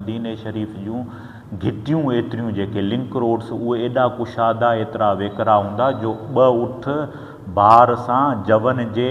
مديني شريف جون گهٽيون ايتريون جيڪي لنڪ روڊس اهي ايڏا ڪشادا ايترا ويڪرا هوندا جو ٻه اٺ بار سان جون جي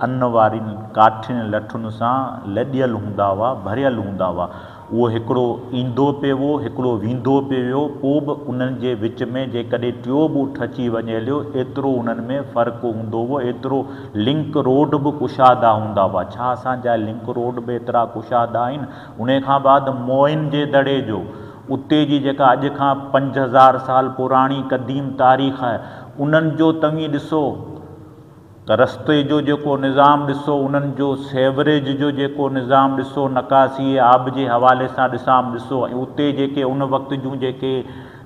ان وارين ڪاٺين لٺن سان لڏيل هوندا هئا ڀريل هوندا هئا اهو هڪڙو ايندو پيوو هڪڙو ويندو پيوو پو به انهن جي وچ ۾ جيڪڏهن ٽيو به اٺ اچي وڃي هليو ايترو انهن ۾ فرق هوندو هئو ايترو لنڪ روڊ به ڪشادا هوندا هئا ڇا اسان جا لنڪ روڊ به ايترا ڪشادا آهن انهيء کان بعد موئن جي دڙي جو اتي جي جيڪا اڄ کان پنج هزار سال پراڻي قديم تاريخ آهي انهن جو توهين ڏسو ته رستي جو جيڪو نظام ڏسو انهن جو سيوريج جو جيڪو نظام ڏسو نڪاسي آب جي حوالي سان ڏسام ڏسو ۽ اتي جيڪي ان وقت جون جيڪي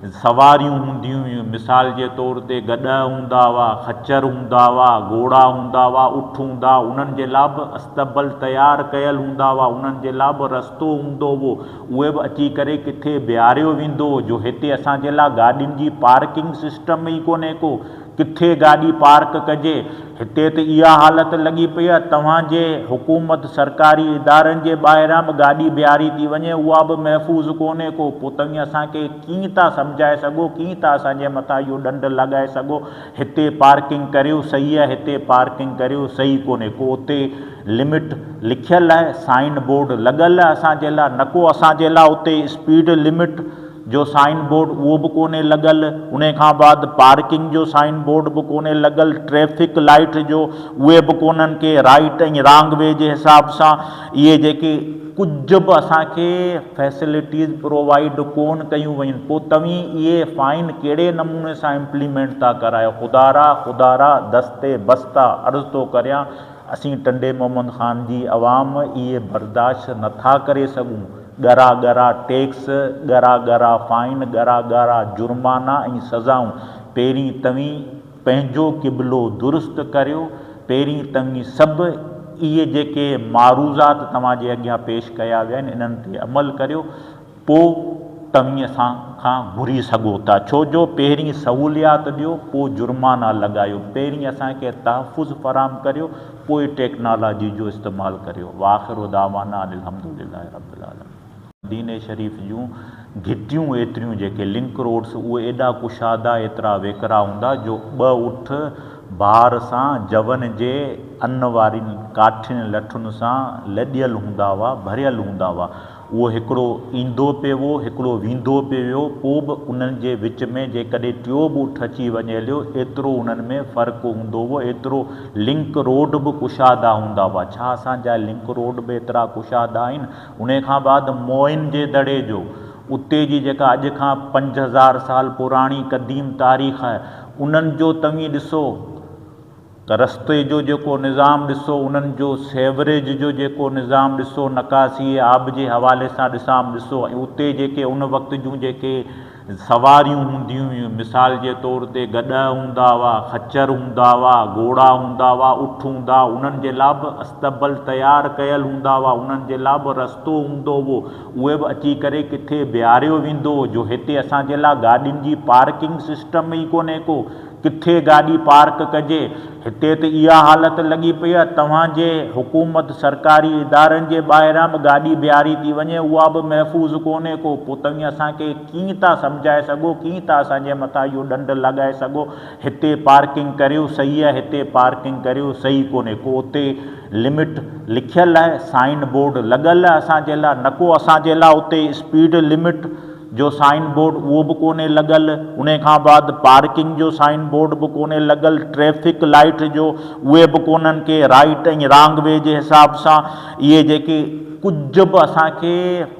سواريون هونديون هيون، مثال جي طور تي گڏهه هوندا هئا، خچر هوندا هئا، گهوڙا هوندا هئا، اٺ هوندا هئا، انهن جي لا به استبل تيار ڪيل هوندا هئا، انهن جي لا به رستو هوندو هئو، اهي به اچي ڪري ڪٿي بيهاريو ويندو هو، جو هتي اسان جي لا گاڏين جي پارڪنگ سسٽم ئي ڪونهي ڪو، ڪٿي گاڏي پارڪ ڪجي. هتي ته اها حالت لڳي پئي آهي توهان جي حڪومت سرڪاري ادارن جي ٻاهران به گاڏي بيهاري ٿي وڃي اها به محفوظ ڪونهي ڪو پوء توهين اسان کي ڪيئن ٿا سمجهائي سگهو ڪيئن ٿا اسان جي مٿان اهو ڏنڊ لڳائي سگهو هتي پارڪنگ ڪريو صحيح آهي هتي پارڪنگ ڪريو صحيح ڪونهي ڪو اتي لمٽ لکيل آهي سائن بورڊ لڳل آهي اسان جي لاء نه ڪو اسان جي لاء اتي اسپيڊ لمٽ جو سائن بورڊ اهو به ڪونهي لڳل انهي کان بعد پارڪنگ جو سائن بورڊ به ڪونهي لڳل ٽريفڪ لائيٽ جو اهي به ڪونهن ڪي رائيٽ ۽ رانگ وي جي حساب سان اهي جيڪي ڪجهه به اسان کي فيسلٽيز پرووائيڊ ڪون ڪيون ويون پو توهين اهي فائن ڪهڙي نموني سان امپليمينٽ ٿا ڪرايو خدا را خدا را دست بسته عرض ٿو ڪريان اسين ٽنڊي محمد خان جي عوام اهي برداشت نٿا ڪري سگهون. ڳرا ڳرا ٽيڪس، ڳرا ڳرا فائن، ڳرا ڳرا جرمانا ۽ سزائون، پهرين توهين پنهنجو قبلو درست ڪريو، پهرين توهين سڀ اهي جيڪي معروضات توهان جي اڳيان پيش ڪيا ويا آهن انهن تي عمل ڪريو، پوء توهين اسان کان گهري سگهو ٿا، ڇو جو پهرين سهوليات ڏيو، پوء جرمانا لڳايو، پهرين اسان کي تحفظ فراهم ڪريو، پوء ٽيڪنالاجي جو استعمال ڪريو واخر دعوانا ان الحمد لله رب العالمين. مديني شريف جون گهٽيون ايتريون جيڪي لنڪ روڊس اهي ايڏا ڪشادا ايترا ويڪرا هوندا جو ٻه اٺ بار سان جون جي ان وارين ڪاٺين لٺن سان لڏيل هوندا هئا ڀريل هوندا هئا اهو هڪڙو ايندو پيو، هڪڙو ويندو پيو ويو، پوء به انهن جي وچ ۾ جيڪڏهن ٽيو به اٺ اچي وڃي هليو، ايترو انهن ۾ فرق هوندو هو، ايترو لنڪ روڊ به ڪشادا هوندا هئا. ڇا اسان جا لنڪ روڊ به ايترا ڪشادا آهن؟ انهيء کان بعد موئن جي دڙي جو، اتي جي جيڪا اڄ کان پنج هزار سال پراڻي قديم تاريخ آهي، انهن جو توهين ڏسو، ته رستي جو جيڪو نظام ڏسو، انهن جو سيوريج جو جيڪو نظام ڏسو، نڪاسيء آب جي حوالي سان ڏسام ڏسو ۽ اتي جيڪي ان وقت جون جيڪي سواريون هونديون هيون، مثال جي طور تي گڏهه هوندا هئا، خچر هوندا هئا، گهوڙا هوندا هئا، اٺ هوندا هئا، انهن جي لا به استبل تيار ڪيل هوندا هئا، انهن جي لا به رستو هوندو هئو، اهي به اچي ڪري ڪٿي بيهاريو ويندو هو، جو هتي اسان جي لا گاڏين جي پارڪنگ سسٽم ئي ڪونهي ڪو، ڪٿي گاڏي پارڪ ڪجي. هتي ته اها حالت لڳي پئي آهي توهان جي حڪومت سرڪاري ادارن جي ٻاهران به گاڏي بيهاري ٿي وڃي اها به محفوظ ڪونهي ڪو پوء توهين اسان کي ڪيئن ٿا سمجهائي سگهو ڪيئن ٿا اسان جي مٿان اهو ڏنڊ لڳائي سگهو هتي پارڪنگ ڪريو صحيح آهي هتي پارڪنگ ڪريو صحيح ڪونهي ڪو اتي لمٽ لکيل آهي سائن بورڊ لڳل آهي اسان جي لاء نه ڪو اسان جي لاء اتي اسپيڊ لمٽ جو سائن بورڊ اهو به ڪونهي لڳل انهي کان بعد پارڪنگ جو سائن بورڊ به ڪونهي لڳل ٽريفڪ لائيٽ جو اهي به ڪونهن ڪي رائيٽ ۽ رانگ وي جي حساب سان اهي جيڪي ڪجهه به اسان کي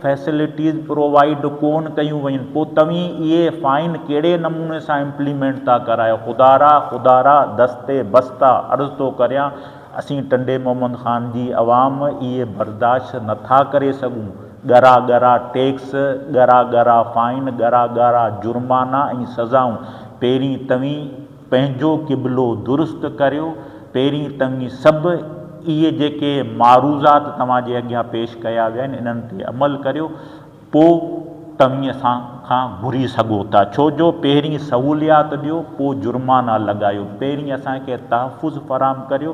فيسلٽيز پرووائيڊ ڪون ڪيون ويون پو توهين اهي فائن ڪهڙي نموني سان امپليمينٽ ٿا ڪرايو خدا را خدا را دست بسته عرض ٿو ڪريان اسين ٽنڊي محمد خان جي عوام اهي برداشت نٿا ڪري سگهون. ڳرا ڳرا ٽيڪس، ڳرا ڳرا فائن، ڳرا ڳرا جرمانا ۽ سزائون، پهرين توهين پنهنجو قبلو درست ڪريو، پهرين توهين سڀ اهي جيڪي معروضات توهان جي اڳيان پيش ڪيا ويا آهن انهن تي عمل ڪريو، پوء توهين اسان کان گهري سگهو ٿا، ڇو جو پهرين سهوليات ڏيو، پوء جرمانا لڳايو، پهرين اسان کي تحفظ فراهم ڪريو،